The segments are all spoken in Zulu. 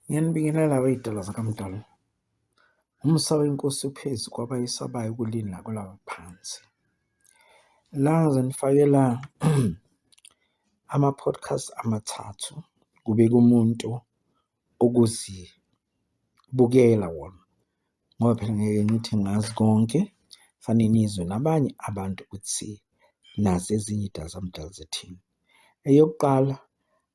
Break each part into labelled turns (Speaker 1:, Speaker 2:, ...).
Speaker 1: Ngiyanibingelela wey'tolo zakaMdali. Umusa weNkosi uphezu kwabayesabayo kuleli nakulaba phansi. La ngizonifakela ama-podcast amathathu kubeka umuntu okuzibukela wona ngoba phela ngeke ngithi ngazi konke, fanele nizwe nabanye abantu ukuthi nazi ezinye iy'dakamizwa zithini. Eyokuqala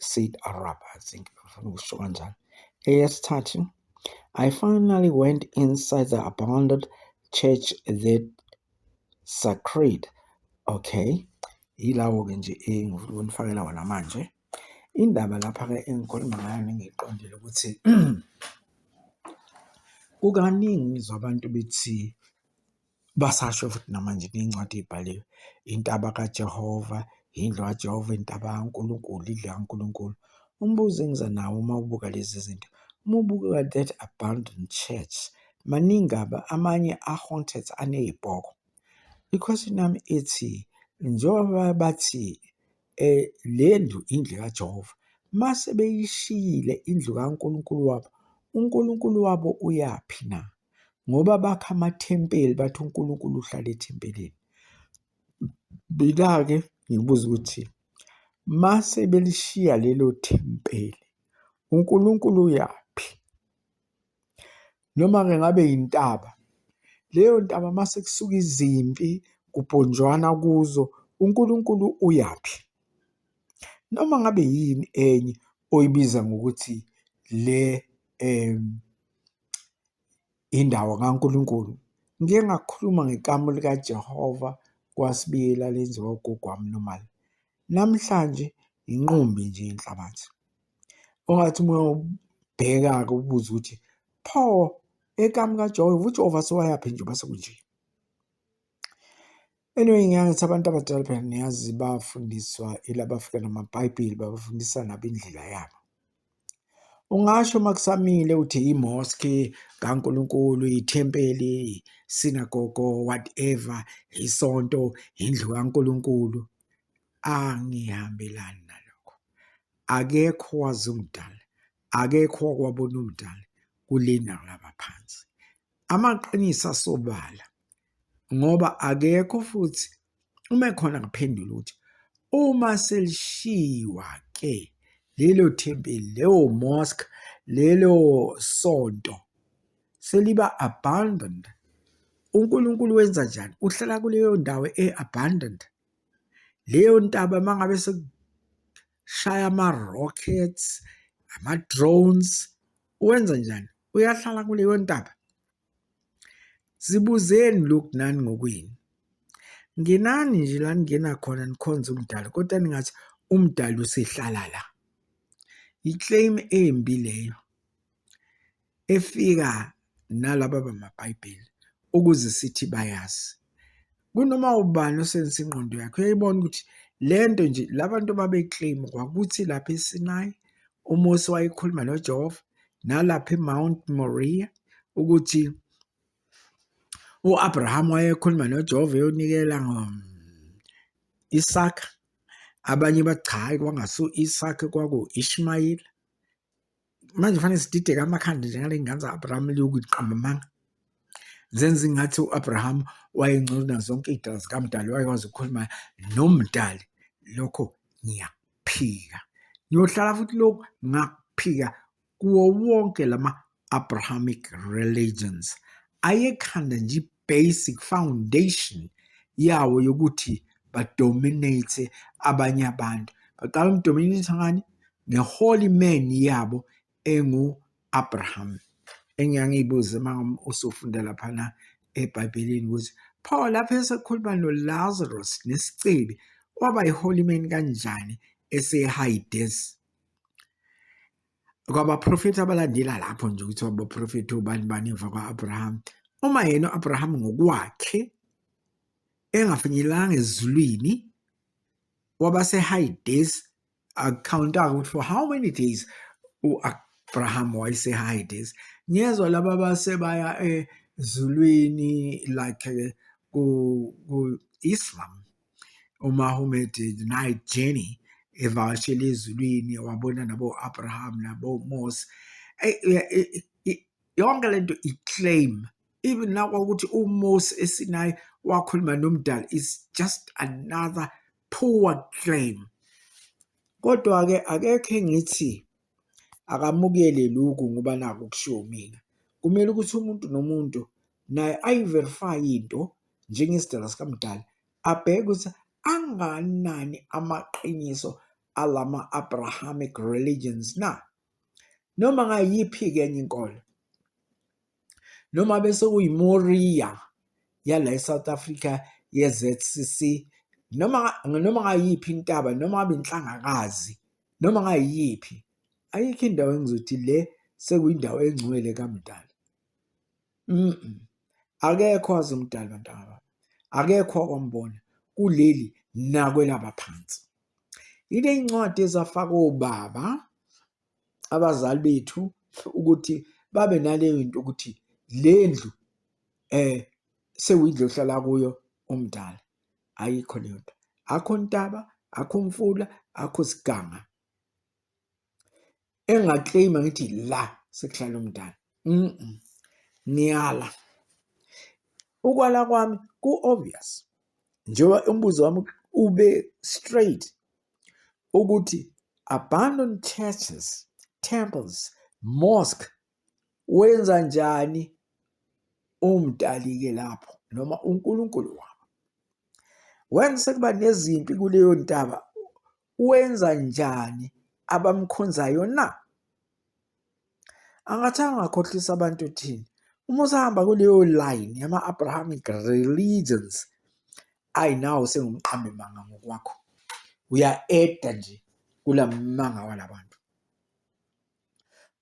Speaker 1: Said Arab, I think. Eyesithathu, I finally went inside the abandoned church that sacred. Okay. Yilawo-ke nje engifuna ukunifakela wona manje. Indaba lapha-ke engikhuluma ngayo nengiyiqondile ukuthi kukaningi ngizwa abantu bethi Basasho futhi namanje ney'ncwadi ey'bhaliwe, intaba kaJehova, indlu kaJehova, intaba kaNkulunkulu, indlu kaNkulunkulu. Umbuzo engiza nawo uma ubuka lezi zinto, uma ubuka that abandoned church, maningi amanye a-haunted aney'bhoko. I-question yami ithi njengoba bathi Le ndlu indlu kaJehova. Uma sebeyishiyile indlu kaNkulunkulu wabo, uNkulunkulu wabo uyaphi na? Ngoba bakha amathempeli, bathi uNkulunkulu uhlala ethempelini. Mina-ke ngibuza ukuthi uma sebelishiya lelo thempeli, uNkulunkulu uyaphi? noma-ke ngabe yintaba. Leyo ntaba uma sekusuka izimpi kubhonjwana kuzo, uNkulunkulu uyaphi? Noma ngabe yini enye oyibiza ngokuthi le indawo kaNkulunkulu. Ngike ngakhuluma ngekamu likaJehova kwaSibiyela lenziwa ugogo wami nomali. Namhlanje yinqumbi nje inhlabathi. Ungathi uma ubheka-ke ubuze ukuthi pho ekami kaJehova uJehova sewayaphi njengoba sekunje. Anyway, ngiyangithi abantu abadala phela niyazi bafundiswa ilabafika namaBhayibheli babafundisa nabo indlela yabo. Ungasho uma kusamile uthi imoski kaNkulunkulu, ithempeli, sinagogo, whatever, isonto, indlu kaNkulunkulu. Angihambelani nalokho. akekho owazi umdali akekho owakwabona umdali kulena kulaba phansi amaqiniso asobala ngoba akekho futhi uma ekhona ngiphendula ukuthi uma selishiwa ke lelo thempeli leyo mosque lelo sonto seliba abandoned uNkulunkulu wenza njani uhlala kuleyo ndawo eabandoned leyo ntaba uma ngabe sekushaya ama-rockets ama-drones wenza njani uyahlala kuleyo ntaba zibuzeni lokhu nani ngokwini ngenani nje la ningena khona nikhonze umdali kodwa ningathi umdali usehlala la yi-claim embi leyo efika nalaba bamaBhayibheli ukuze sithi bayazi. Kunoma ubani osebenzisa ingqondo yakhe uyayibona ukuthi le nto nje la bantu babekleyima kwakuthi lapha eSinayi uMose wayekhuluma noJehova nalapha eMount Moriya ukuthi u-Abraham wayekhuluma noJehova eyonikela um, Isaka abanye bathi cha hayi kwangasu-Isaka kwaku-Ishmayeli manje kufanele sidideke amakhanda njengale ngane za-abraham liyokuthi qambamanga zenza ingathi u-abraham wayengcono nazonke iy'dala zikamdali wayekwazi ukukhuluma nomdali lokho ngiyakuphika ngiyohlala futhi lokhu ngakuphika kuwo wonke lama-abrahamic religions ayekhanda nje i-basic foundation yawo yokuthi badominate abanye abantu baqala umdominate ngani nge-holy man yabo engu-abraham engiyangiyibuze uma usufunda laphana ebhayibhelini ukuthi pho lapho esekhuluma nolazarus nesicebi waba yi-holy man kanjani esehayidesi kwabaprofethi abalandela lapho nje ukuthi abaprofethi obani bani emva kwa-abraham uma yena u-abraham ngokwakhe engafinyelanga ezulwini wabase-hides akukhawunta ukuthi for how many days u-abraham wayese-hides ngezwa laba basebaya ezulwini like ku-islam uMahomet Night Journey evakashela ezulwini wabona nabo-Abraham nabo-Mose yonke lento i-claim even nakwakuthi uMose esinayi wakhuluma nomdali is just another poor claim kodwa-ke akekho engithi akamukele lokhu ngoba naku kushiwo mina, kumele ukuthi umuntu nomuntu naye ayi-verify-e into njengesidalwa sikamdali, abheke ukuthi angakanani amaqiniso alama-Abrahamic religions na, noma ngayiphi-ke enye inkolo. noma bese uyiMoria yala eSouth Africa yeZCC noma noma ngayiphi intaba noma ngabe inhlangakazi noma ngayiphi ayikho indawo engizothi le sekuyindawo engcwele kamdali mm akekho wazi umdali bantaba akekho okwambona kuleli nakwelaba phansi ile incwadi ezafaka obaba abazali bethu ukuthi babe naleyo into ukuthi le ndlu um sewindlu ohlala kuyo umdala ayikho leyo nto akho ntaba akho mfula akho siganga engakleyima ngithi la sekuhlala umdala ngiyala ukwala kwami ku-obvious njengoba umbuzo wami ube straight ukuthi abandoned churches temples mosque wenza njani umdalike lapho noma uNkulunkulu wabo wenza sekuba nezimpi kuleyo ntaba wenza njani abamkhonzayo na angathanga akhohlisa abantu thini uma usahamba kuleyo line yama-abrahamic religions ayi nawo sengumqambe manga ngokwakho uya-eda nje kula manga walabantu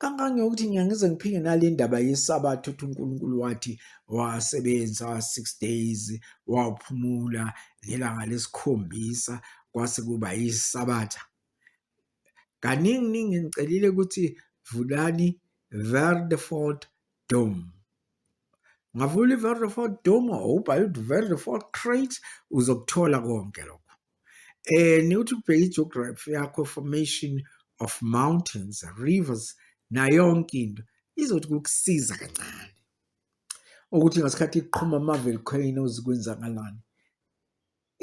Speaker 1: kangangeyokuthi ngiyangize ngiphinde nale ndaba yesabatha ukuthi unkulunkulu wathi wasebenza six days waphumula ngelanga lesikhombisa kwase kuba yisabatha kaningi ningi ngicelile ukuthi vulani Verdefort Dom ngavula i-Verdefort Dom ubhale ukuthi Verdefort Crate uzokuthola konke lokho eh niwuthi ubheke i-geography yakho formation of mountains rivers nayo yonke into izothi kukusiza kancane ukuthi ngasikhathi iqhuma ama-volcanoes kwenzakalani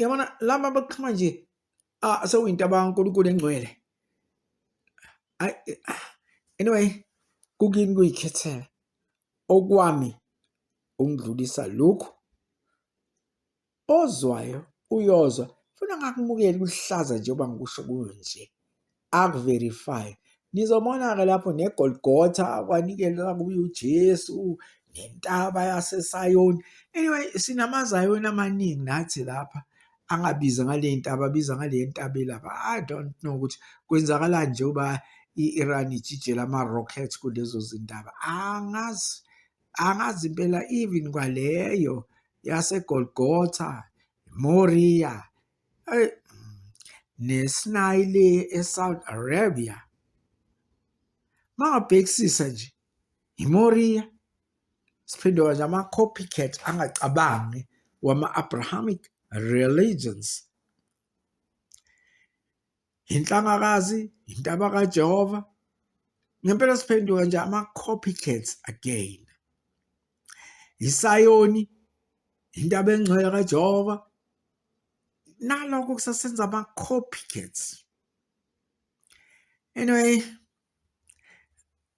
Speaker 1: Yabona laba baxhuma nje ah sewinto abankulunkulu engcwele. Ay ah, anyway kukini kuyikhethela okwami ungidlulisa lokhu ozwayo uyozwa funa ngakumukela kuhlaza njengoba ngikusho kuyo nje akuverify nizobona-ke lapho negolgotha kwanikelwa kuye ujesu nentaba yasesayoni anyway sinamazayoni amaningi nathi lapha angabiza ngale ntaba abiza ngale ntaba elapha i don't know ukuthi kwenzakalani njengoba i-iran ijijela ama-rockets kulezo zindaba angazi angazi impela even kwaleyo yasegolgotha moriya Eyi nesinayi le eSaudi Arabia mangabhekisisa nje iMoria siphinde manje ama-copycat angacabangi wama-abrahamic religions inhlangakazi intaba kaJehova ngempela siphenduka nje ama copycats again isayoni intaba engcwele kaJehova nalokho kusasenza ama copycats anyway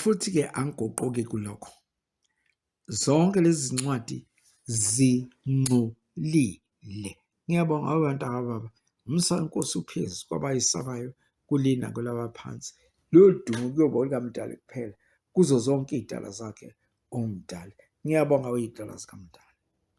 Speaker 1: Futhi-ke angiguquki kulokho. Zonke lezi zincwadi zingcolile. Ngiyabonga wawe ntaka baba. Umsa wenkosi uphezu kwabayisabayo kulina kwelabaphansi. Lolu dumo kuyoba olukamdali kuphela kuzo zonke iy'dala zakhe omdali. Ngiyabonga uyidala zikamdali.